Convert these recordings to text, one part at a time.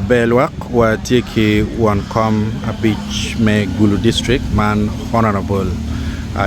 Ber lwak wa tye ki won kom abic me Gulu District man Honourable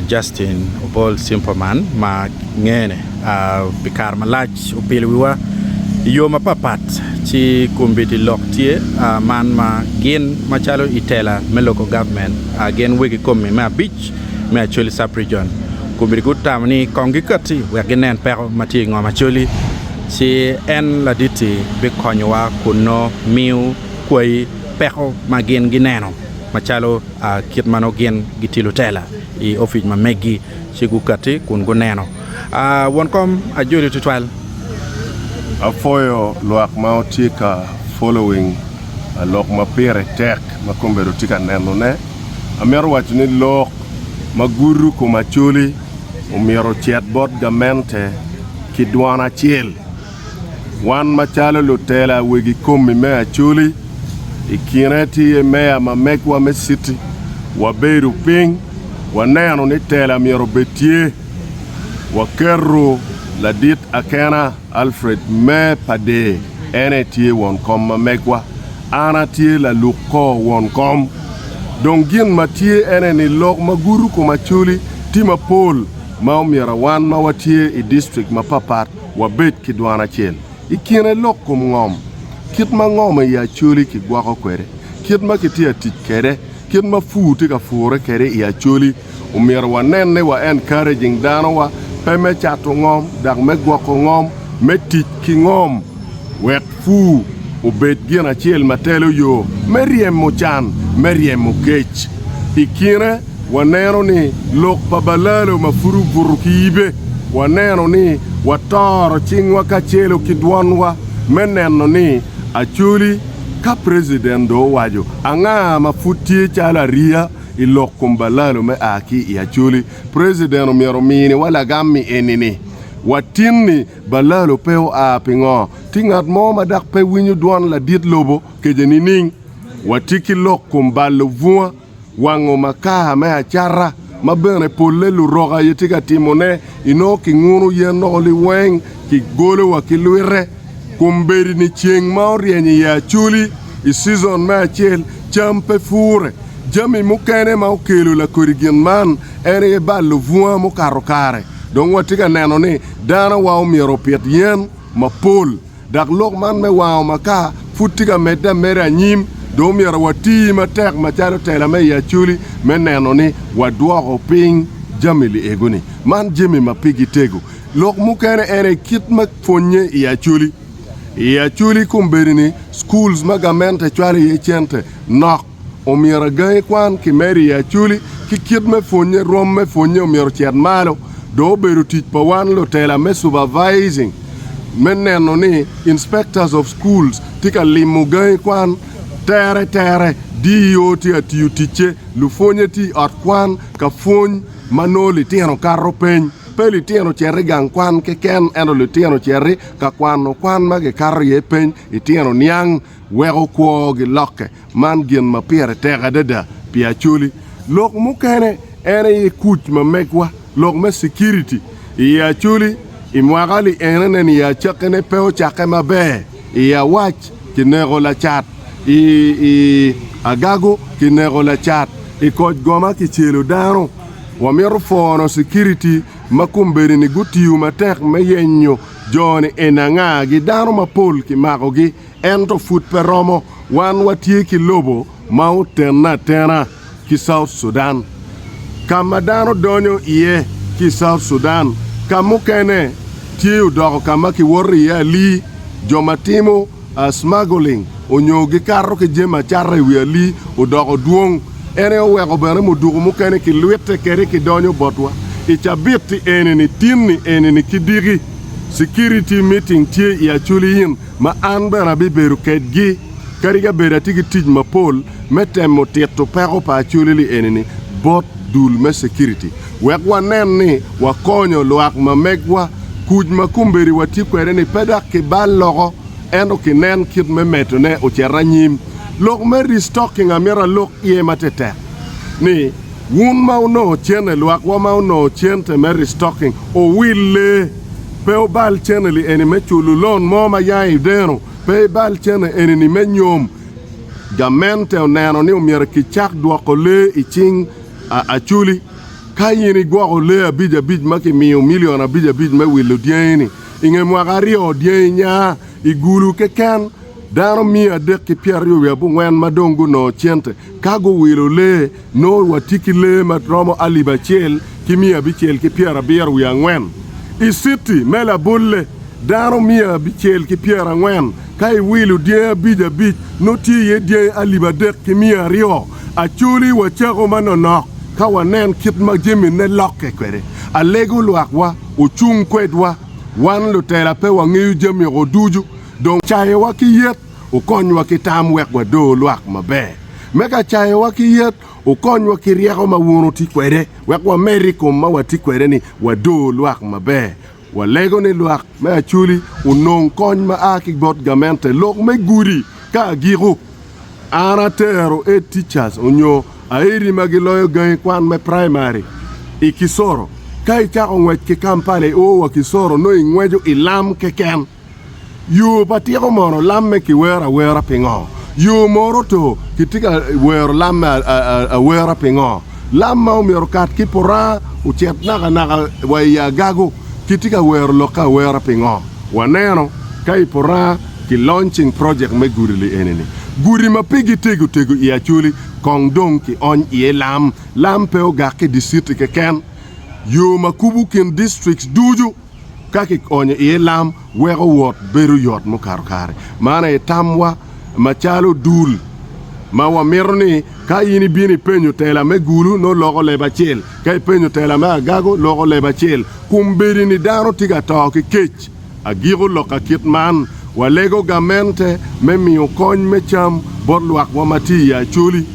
Justin Obol Simperman ma ngene pi kare malac opilo wiwa i yo mapat pat ci kombiti lok tye man ma gin macalo i tela me Local Government gin wegi komi me abic me Acholi Sub Region kombiti gutamo ni kong gikati wek ginen peko ma tye i ngom Acholi. ci en laditti bikonyowa kun nongo miyo kwayi peko ma gin gineno, macalo kit ma nongo gin gitye lutela i opic ma megi ci gukatti kun guneno. Won kom ajoli tutwal. Apwoyo lwak ma wutye ka following lok ma pire tek ma kombedo wutye ka nenone. Amito waco ni lok ma gudo kom Acholi. omyero ocit bot gamente ki dwan acel. Wan macalo lutela wegi komi me Acholi, i kine ti ye meya ma megwa me citi, wabedo piny waneno ni tela myero obed tye, waketo ladit akena. Alfred me Pader, en aye tye won kom ma megwa. An atye laluk kor won kom. Dong gin ma tye ene ni lok ma gudo kom acoli tye mapol ma omyera wan ma watye i district mapapat wabed ki dwan acel. I kine lok kom ngom, kit ma ngom i acoli kigwoko kwede, kit ma kitye atic kwede, kit ma pur tye ka pure kwede i acoli, Omyero wanen ni wa encouraging danowa, pe me cato ngom, dok me gwoko ngom, me tic ki ngom wek pur obed gin acel ma telo yo me ryemo can, me ryemo kec. I kine, waneno ni lok pa balalo ma pud obuto ki yibe, waneno ni watoro cingwa kacelo ki dwonwa me neno ni actually ka president dong owaco anga ma pud tye calo ariya, I lok kom balalo me a ki i Acholi, President omyero ominiwa lagammi enini, Watin ni balalo pe oa pingo? Tye ngat mo ma dak pe winyo dwon ladit lobo kece nining? Wati ki lok kom balo bunga, wango makar me acata, ma bene polle luroka aye tye ka timone, inongo kinguno yen dok oliweng, kigolowa ki lwite. Kombeddi-ni ceng ma oryeny i Acholi i cizon me acel, cam pe pure. Jami mukene ma okelo lakodi gin man en aye balo bunga mukato kare. Dong watye ka neno ni danowa omyero opit yen mapol. Dok lok man me wango makar pud tye ka medde ameda anyim, dong myero wati matek macalo tela me i Acholi me neno ni wadwoko piny jami liego-ni. Man jami ma pigi tego. Lok mukene en aye kit ma. pwonye i Acholi. I Acholi kombeddi-ni schools ma gamente cwalo iye cente nok, omyero agangi kwan kimedo i Acholi ki kit me pwonye, rwom me pwonye omyero ocit malo. Dong obedo tic pa wan lutela me supervising me neno ni inspectors of schools tye ka limo gangi kwan tere tere. DEO tye ka tiyo ticce, lupwonye tye i ot kwan ka pwony ma nongo litino kato peny. Pe litino ocer i gang kwan keken, ento litino ocer i ka kwano kwan ma kikato iye peny itino niang weko kwo gilokke. Man gin ma pire tek adada pi Acholi. Lok mukene en aye kuc ma megwa, lok me security, i Acholi i mwaka li enene ni acakkine pe ocakke maber. I awac kineko lacat, i agago kineko lacat, i koc goma kicelo dano. Wamito pwono sikiriti ma kombedini gutiyo matek me yenyo jo-ni en angagi. Dano mapol kimakogi, ento pud pe romo. Wan watye ki lobo ma otenne atena. ki South Sudan, ka ma dano donyo iye ki i South Sudan ka mukene tye odoko ka ma kiwoto iye alii, jo ma timo smuggling onyo gikato ki jami acata i wi alii odoko dwong. En aye oweko bene muduku mukene kilwitte kede kidonyo botwa. I cabit-ti eni-ni, tin-ni eni-ni ki diki, sikiriti miting tye i Acholi Inn. ma an bene abibedo kedgi, kadi ka bed atye ki tic mapol me temo tito peko pa acoleli eni-ni bot dul me Security wek wanen ni wakonyo lwak ma megwa. Kuc ma kombeddi watye kwede-ni pe dok kibal loko, ento kinen kit me medone ocito anyim. Lok me restocking amito alok iye matetek ni, Wun ma wunongo cene, lwak wa ma wunongo cente me restocking owille, pe wubal cene li eni me culu loan mo ma yanga ideno, pe ibal cene eni ni me nyom. Gamente oneno ni omyero kicak dwoko lee i cing aculi. Ka in igwoko lee abic abic ma kimiyo milion abic abic me wilo dyangi ni, inge mwaka aryo dyangi nya igulu keken dano miya adek ki pyeraryo wiye abongwen ma dong gunongo cente. Ka guwilo lee, nongo watye ki lee ma romo alip acel ki miya abicel ki pyerabiro wiye angwen. I citi me labolle, dano miya abicel ki pyerangwen. Ka iwilo dyangi abic abic, nongo tye iye dyangi alip adek ki miya aryo. Acholi wacako manonok ka wanen kit ma jamine lokke kwede. Alego lwakwa ocung kwedwa. Wan lutela pe wangeyo jami-go ducu, dong cayowa ki yet. Okonywa ki tam wek wador lwak maber me ka cayowa ki yet. Okonywa ki ryeko ma wun wutye kwede wek wamed i kom ma watye kwede ni wador lwak maber. Walego ni lwak me Acholi onong kony ma a ki bot gamente lok me gudi ka agiko. An atero Ed Teachers onyo Aedi ma giloyo gangi kwan me praimari i Kisoro. Ka icako ngwec ki Kampala i o wa Kisoro nongo ingweco i lam keken. Yo pa tiko mono lam me kiwero awera pingo? Yo mono oto kitye ka wero lam me awera pingo? Lam ma omyero okat ki puranga ocit naka naka wa i agago kitye ka wero lokke awera pingo? Waneno ka i puranga ki launching project me gudi li eni ni, Gudi ma pigi tego tego i Acholi kong dong ki ony iye lam. Lam pe ogak ki diciti keken, yo ma kubu kin districts ducu. ka kionyo iye lam weko wot bedo yot mukato kare. Man aye tamwa macalo dul ma wamito ni ka in ibino ipenyo tela me Gulu nongo loko leb acel, ka ipenyo tela me Agago loko leb acel. Kombeddi ni dano tye ka to ki kec. Agiko lok ka kit man, walego gamente me miyo kony me cam bot lwakwa ma tye i Acholi,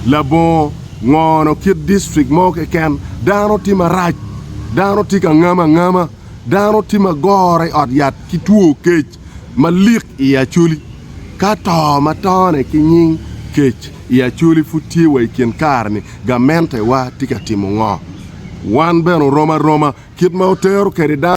labongo, Ngono kit district mo keken, dano tye marac, dano tye ka ngamo angama, dano tye ma gore i ot yat ki two kec malik i Acholi. Ka to ma tone ki nying kec i Acholi pud tye wa i kin kare-ni, gamentewa tye ka timo ngo? Wan bene oromo aroma kit ma otero kwede dano.